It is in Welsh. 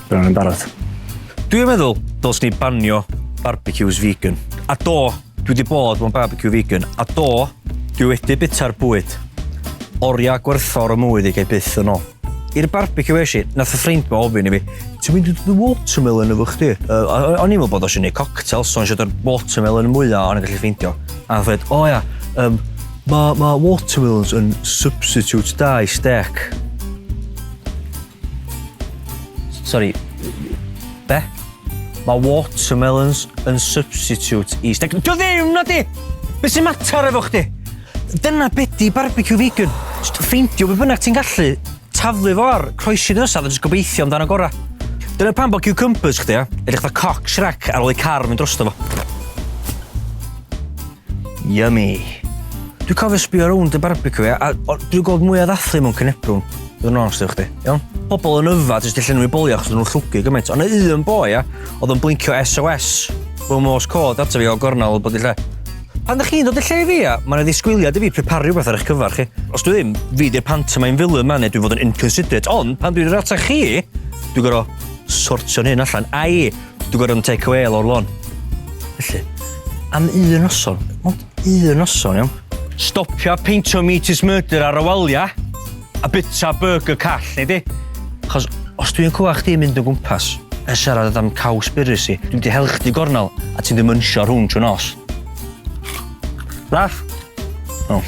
Bydd yn barod. Dwi'n meddwl, dos ni banio barbecues vegan. A do, dwi wedi bod mewn barbecue vegan. A do, dwi wedi bita'r bwyd. Oriau gwerthfawr o mwy i gael byth yn ôl. I'r barbecue eisiau, i, nath y ffrind ma ofyn i fi, ti'n mynd i ddod y watermelon efo chdi? Uh, o'n i'n meddwl bod o eisiau gwneud cocktail, so o'n eisiau dod watermelon mwyaf o'n i'n gallu ffeindio. A fed, o oh, ia, um, mae ma watermelons yn substitute da i steak. Sorry, be? Mae watermelons yn substitute i steg... Dio ddim, nadi! Be sy'n mater efo chdi? Dyna be di barbecue vegan. Jyst ffeindio be bynnag ti'n gallu, taflu fo ar, croesi dy ysaf a jyst gobeithio amdan y gorau. Dyna pan bod cucumbers chdi, ia? Edrych fatha cock Shrek ar ôl i car mynd drosto fo. Yummy! Dwi'n cofio sbio rownd y barbecue ia, a o, dwi'n gweld mwy o ddathlu mewn cynebrwn, bydd yn onest efo chdi, iawn? Pobl yn yfad jyst i llenwi bolio achos nhw'n llwgu gymaint, ond y un boi ia, oedd yn blincio SOS, mewn mos cod ato fi o gornel bod i lle. Pan ydych chi'n dod y lle fi, ia, mae yna ddisgwyliad i fi preparu rhywbeth ar eich cyfer chi. Os dwi ddim, fi di'r pantomime villain ma neu dwi'n fod yn inconsiderate, ond pan dwi'n yr ata chi, dwi'n gorau sortio'n hyn allan. Ai, Dwi'n gorfod yn take away lawr lôn. Felly, am un noson, ond un noson, iawn? Stopia peintio meat is murder ar y walia, a bita burger call, neu di? Chos os dwi'n cwwa chdi mynd o gwmpas, yn siarad am caws byrus i, dwi'n di hel chdi gornel, a ti'n dymynsio rhwng trwy nos. Raff? O. Oh.